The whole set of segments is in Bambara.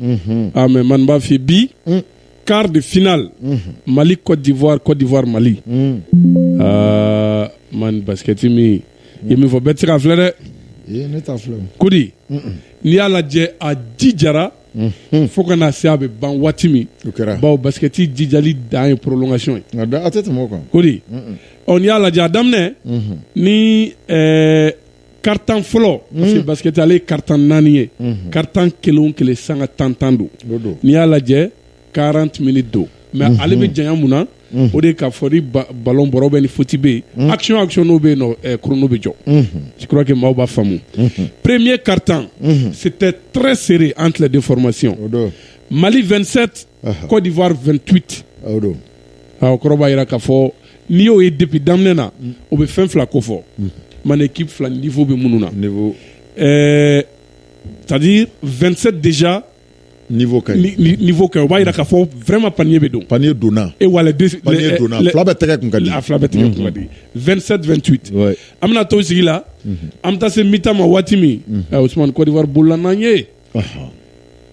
unhun ah mais man b'a f'i ye bi Mm. quart de finale unhun Mali Côte d'Ivoire Côte d'Ivoire Mali un ah man basket min i ye min fɔ bɛɛ tɛ se k'a filɛ dɛ ee ne t'a filɛ o kodi n'i y'a lajɛ a jijara unhun fo ka na se a bɛ ban waati min o kɛra bawo basikɛti jijali dan ye prolongation ye nka da a tɛ tɛmɛ o kan kodi unhun ɔ n'i y'a lajɛ a daminɛ unhun ni ɛɛ quart-temps fɔlɔ hmm. parce que basket ale ye quart-temps naani ye hmm. quart-temps kelen o kelen sanga tan tan don n'i y'a lajɛ 40 minutes don mais hmm. ale bɛ janya mun na o de ka fɔ ni balon bɔra bɛ ni foti bɛ yen action action n'o bɛ yen chrono bɛ jɔ je crois que maaw b'a faamu premier quart-temps c'était très serré entre les deux formations mali 27 uh-huh. cote d'ivoire 28 kɔrɔ b'a jira k'a fɔ n'i y'o ye depuis daminɛ na o bɛ fɛn fila kofɔ man équipe fila niveau bɛ minnu na c'est-à-dire 27 déjà niveau ka ɲi o b'a jira ka fɔ vraiment panier bɛ don panier donna e wa a fila bɛɛ tɛgɛ kun ka di a fila bɛɛ tɛgɛ kun ka di 27 28 an bɛna to sigi la an bɛ taa se mi-temps ma waati min Usumani Côte d'Ivoire bolila n'an ye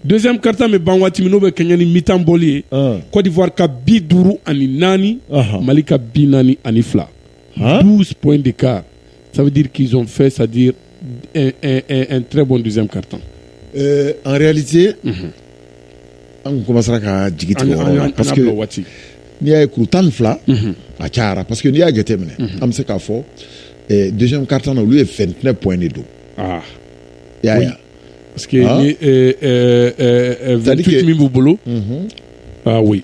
Donso kari bɛ ban waati min n'o bɛ kɛ ni mi tan bɔli ye kɔfɔwa ka bi duuru ani naani mali ka bi naani ani fila p in de ka sabudi kison fɛ sadi n tɛ bɔ dɛsɛ kari tan anze an koma ka jigi waati n'i y'a ye ku tan ni fila a ca pa parceseke n'i y'a jate minɛ an bɛ se k'a fɔ de kari olu ye fɛn tɛnɛ p in de don Parce que Hein? ni euh, euh, euh, euh, C'est-à-dire 28 que- min b'u bolo Mhm. ah oui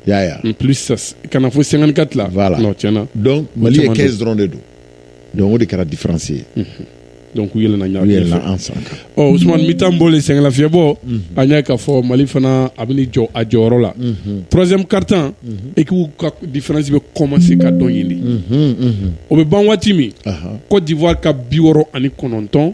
y'a ya en plus ça s- ka na fo 54 la Voilà. non tiɲɛna donc mali ye caman don. 15 dɔrɔn de don donc o de kɛra différence ye donc u yɛlɛna ɲa u yɛlɛla ɲɛfɛ. an san kan ɔ usumani mi-temps bɔlen sɛgɛnlafiyɛbɔ an y'a k'a fɔ mali fana a bɛna jɔ a jɔyɔrɔ la troisième quart-temps ekipu ka différence bɛ commencer ka dɔgɔya dɔɔnin o bɛ ban waati min Aha. Côte d'Ivoire ka bi wɔɔrɔ ani kɔnɔntɔn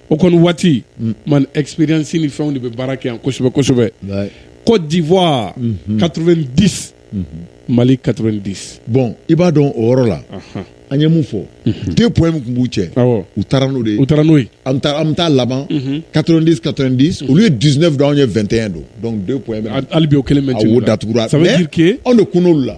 o kɔni waati mm. man experience ni fɛnw de bɛ baara kɛ yan kosɛbɛ kosɛbɛ Côte d'Ivoire 90 mhm. mhm. Mali 90 bon i b'a dɔn o yɔrɔ la an ye mun fɔ mhm. deux points min tun b'u cɛ u taara n'o de ye u taara n'o ye an bɛ taa laban 90 90 olu ye 19 don anw ye 21 don donc deux points hali bi o kelen bɛ ten a wo datugura mais ça veut dire que anw de kunna olu la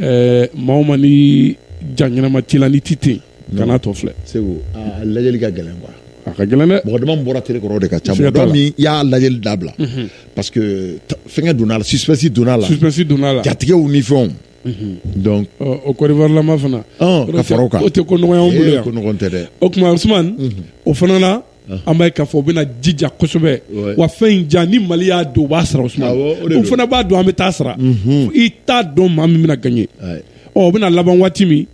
ɛɛ maa ma ni ja ɲɛnama t'i la ni ti ten kana tɔ filɛ sabu a lajɛli ka gɛlɛn quoi a ka gɛlɛn dɛ mɔgɔ dama bɔra tele kɔrɔ de ka ca mɔgɔ min y'a lajɛli dabila mhm. parce que fɛnkɛ donna a la suspense donna a la suspense donna a la jatigɛw ni fɛnw mhm. donc o Côte d'Ivoire lama fana ka fara o kan o tɛ ko nɔgɔya anw bolo yan ko nɔgɔn tɛ dɛ o tuma Usumani mhm. o fana na an b'a ka fɔ o bɛna jija kosɛbɛ wa fɛn in ja ni mali y'a don u b'a sara u fana b'a don an bɛ taa sara mhm. i t'a dɔn maa min bɛna gaɲɛ ɔ o bɛna laban waati min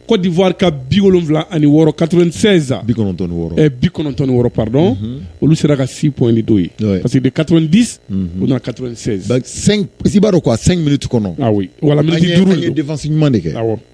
Côte d'Ivoire ka bi wolonwula ani wɔɔrɔ 96 ah bi kɔnɔntɔn ni wɔɔrɔ eh, bi kɔnɔntɔn ni wɔɔrɔ pardon mm -hmm. olu sera ka 6 points de don yen ouais. parce que de 90 mm -hmm. u nana 96 donc 5 i b'a dɔn quoi 5 minutes kɔnɔ ah oui voilà minute duuru an ye défense ɲuman de kɛ awɔ ah,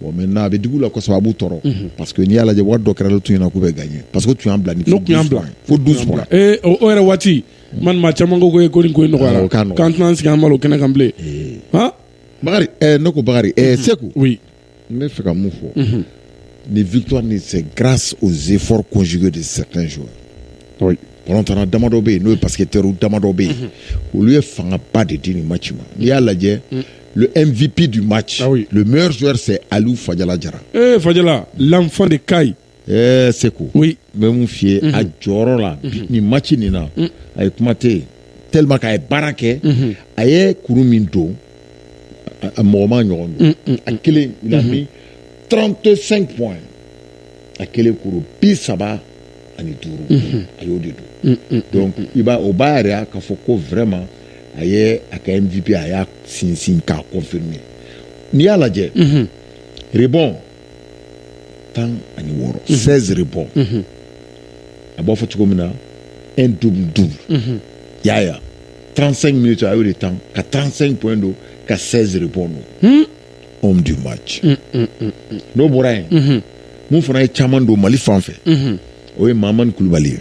bon maintenant a bɛ digi u la kosɛbɛ a b'u tɔɔrɔ parce que n'i y'a lajɛ waati dɔ kɛra tun ɲɛna k'u bɛ gaɲɛ parce que tun bila tun bila fo douze points yɛrɛ waati maa caman ko ko ko ko nɔgɔyara k'an tɛna se ka malo kɛnɛ kan bilen bakari ne ko bakari seku n bɛ fɛ ka mun fɔ nin victoire nin c'est grâce aux efforts conjugués de certains balontanna damadɔ bɛ yen n'o ye parce que teri damadɔ bɛ yen olu ye fanga ba de di nin match in ma n'i y'a lajɛ le MVP du match le meilleur joueur c'est aliyu fajala jara ee fajala l'enfant de Kayes ɛɛ seku n bɛ mun fɔ i ye a jɔyɔrɔ la nin match nin na a ye kuma tɛ yen tellement k'a ye baara kɛ a ye kuru min don mɔgɔ m'a ɲɔgɔn don a kelen il a mis trente-cinq a kelen kuru bi saba ani duuru a y'o de don i b'a o b'a yɛrɛ y'a ka fɔ ko vma a ye a ka nfifin a y'a sinsin k'a kɔ fɛ min n'i y'a lajɛ rebɔn tan ani wɔɔrɔ sɛre bɔn a b'a fɔ cogo min na e du du y'a yan tansan min to a y'o de tan ka tansan in bɔ don ka sɛri bɔ don homme du match n'o bɔra yen mun fana ye caman don mali fan fɛ o ye mamani kulubali ye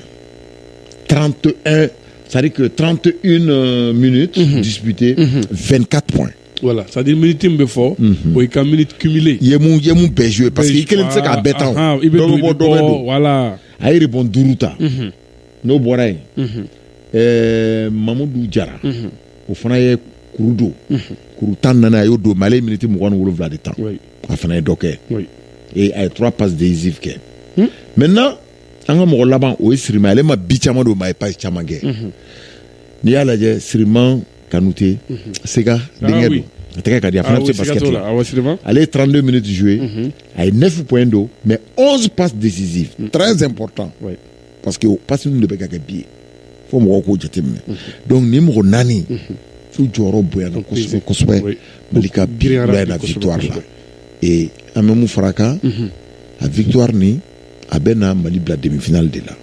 trente un c'est-à-dire que 31 euh, minutes mm -hmm. disputées, mm -hmm. 24 points. Voilà, c'est-à-dire minute bɛ fɔ o y'i ka minute cumulée i ye mun i ye mun bɛɛ joué parce que i kelen tɛ se k'a bɛɛ tan o, i bɛ dɔ bɛ bɔ dɔ bɛ don voilà a ye rebond duuru ta n'o bɔra yen ɛɛ mamudu jara o fana ye kuru don kuru tan ni naani a y'o don mais ale miniti mugan ni wolonwula de tan a fana ye dɔ kɛ a ye trois passes décisives kɛ maintenant an ka mɔgɔ laban o ye siriman ale ma bi caman don mais a ye passe caman kɛ n'i y'a lajɛ siriman kanute sega denkɛ don a tɛgɛ ka di a fana bɛ se pa ale ye trente-deux minutes joué a ye neuf points don mais onze passes décisives très important parce que pasi ninnu de bɛ ka kɛ bi ye fo mɔgɔw k'o jateminɛ donc nin mɔgɔ naani u jɔyɔrɔ bonyana kosɛbɛ kosɛbɛ Oui. mali ka girinyara bila na kosɛbɛ, victoire la kosɛbɛ. et an bɛ mun fara a kan a victoire nin a bɛna mali bila demi finale de la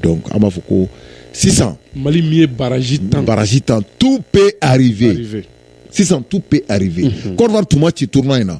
donc an b'a fɔ ko sisan mali min ye barrage tan barrage tan tout peut arriver sisan tout peut arriver Côte d'Ivoire tun ma ci tournoi in na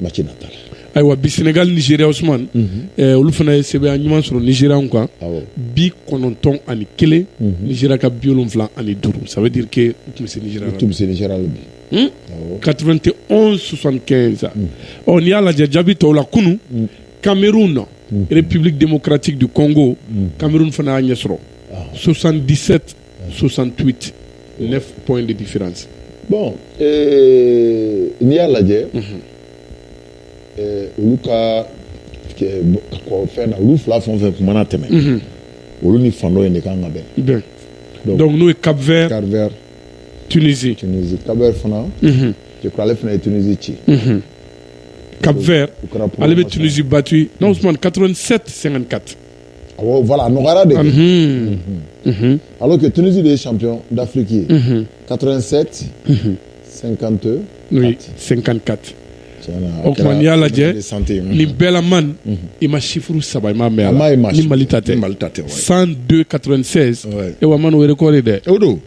match natal ayiwa bi senegal nigeria ousmane eh, olu fana ye sebaaya ɲuman sɔrɔ nigerianw kan awɔ bi kɔnɔntɔn ani kelen nigeria ka bi wolonfila ani duuru ça veut dire que u tun bɛ se nigeria la tun bɛ se nigeria la bi Hmm? awɔ 91 75 ɔ n'i y'a lajɛ jaabi tɔw la kunu cameroun république démocratique du congo cameroun fana y'a ɲɛ sɔrɔ 77 68 9 points de différence. bon euh, n'i y'a lajɛ. Mhm. Euh, olu ka fɛn na olu fila fɛn o fɛn kɔni mana tɛmɛ. Mhm. olu ni fan dɔ in de kan ka bɛn. bɛn donc, donc n'o ye Cap Vert. Cap Vert. Tunisie. Tunisie Cap Vert fana. Mhm. je crois ale fana ye Tunisie ci. Cap Vert ale bɛ Tunisie battu non Ousmane 87 54. nɔgɔyara de ala kɛ tuurusi de ye san dafiki ye ka seti sen kanto sen kan kati o tuma n y'a lajɛ ni bɛɛlama i ma sifuru saba i ma mɛ a ma mali ta tɛ mali ta tɛ san ka e wa wɛrɛ kɔɔri dɛ o don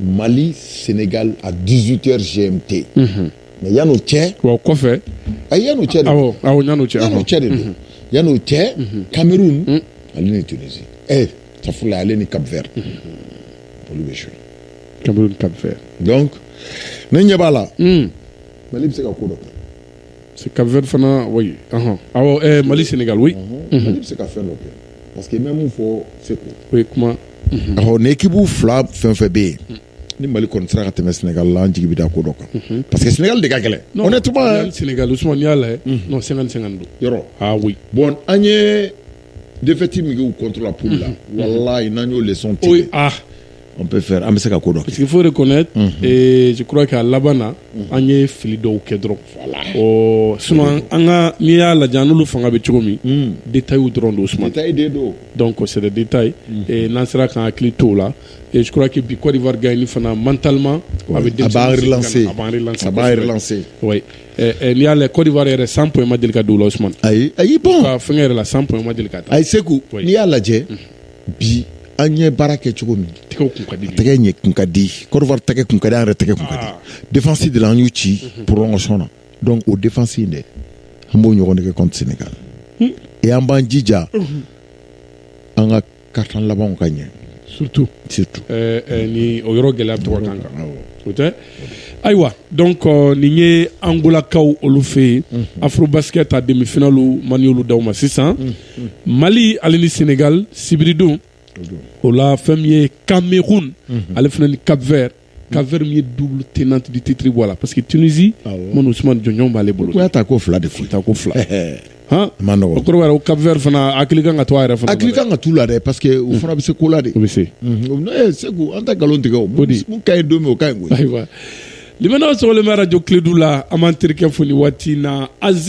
Mali Senegal à 18h GMT. Unhun. Mais yan'o cɛ. Wa o kɔfɛ. Ayi yan'o cɛ de. Awɔ awɔ yan'o cɛ. Yan'o cɛ de don. Yan'o cɛ. Cameroun. Un. Ale ni Tunisie. Ɛɛ safurulayi ale ni Cap Vert. Olu bɛ jouer. Cameroun Cap Vert. Donc ne ɲɛ b'a la. Un. Mali bɛ se ka ko dɔ kɛ. C'est Cap Vert fana oui. Ɔhɔn. Awɔ ɛɛ Mali Senegal oui. Mali bɛ se ka fɛn dɔ kɛ parce que n bɛ mun fɔ Seku. O ye kuma. Ɔhɔn ni ekipu fila fɛn fɛn bɛ yen ni Mali kɔni sera ka tɛmɛ Senegal la an jigi bɛ da ko dɔ kan parce que Senegal de ka gɛlɛn. Honnêtement Senegal Usumani n'i y'a lajɛ non 50 50 don. Yɛrɛ. Ah oui. Bon an ye défaite min kɛ u contre la poule la walayi n'an y'o leçon tirer. Oui ah. an bɛ se ka ko dɔn sigi foyi de kɔnɛ kura kɛ a laban na an ye fili dɔw kɛ dɔrɔn ɔ su an ka n'i y'a lajɛ n'olu fanga bɛ cogo min de ta y'u dɔrɔn don suman dɔn kɔsɛbɛ de ta n'an sera ka hakili t la surakake bi kɔdiwa fana man tanlima a bɛ n'i y'a la kɔdiwa yɛrɛ san ma deli ka don la ayi ayi fɛn yɛrɛ la sanma deli ka taa ayi se n'i y'a lajɛ bi an ye baara kɛ cogo min tɛgɛ kun ka di tɛgɛ ɲɛ kun ka di côte d'ivoire tɛgɛ kun ka di an yɛrɛ tɛgɛ kun ka di ah. défense de la an y'u ci mhm. prolongation na donc o défense in de an b'o ɲɔgɔn de kɛ contre sénégal hmm. e an b'an jija mhm. an ka quart-temps labanw ka ɲɛ surtout surtout eh, eh, ni o yɔrɔ gɛlɛya to ka k'an kan o tɛ ayiwa donc nin ye angolakaw olu fɛ yen mhm. afrobasket a demi-finalew man y'olu d'aw ma sisan mhm. mali ale ni senegal sibiridon o la fɛn min ye cameroun ale fana ni cap vert cap vert min ye double tenant du titre bɔ a la parce que tunisie manu usman jɔnjɔn b'ale bolo ko y'a ta ko fila de fɔ ta ko fila han man nɔgɔ o kɔrɔ ko cap vert fana hakili kan ka to a yɛrɛ fana hakili kan ka t'u la dɛ parce que u fana bɛ se ko la de o bɛ se ee segu an tɛ nkalon tigɛ o mun ka ɲi don min o ka ɲi koyi ayiwa limanaw sɔgɔlen bɛ arajo kiledu la an b'an terikɛ fo nin waati in na azi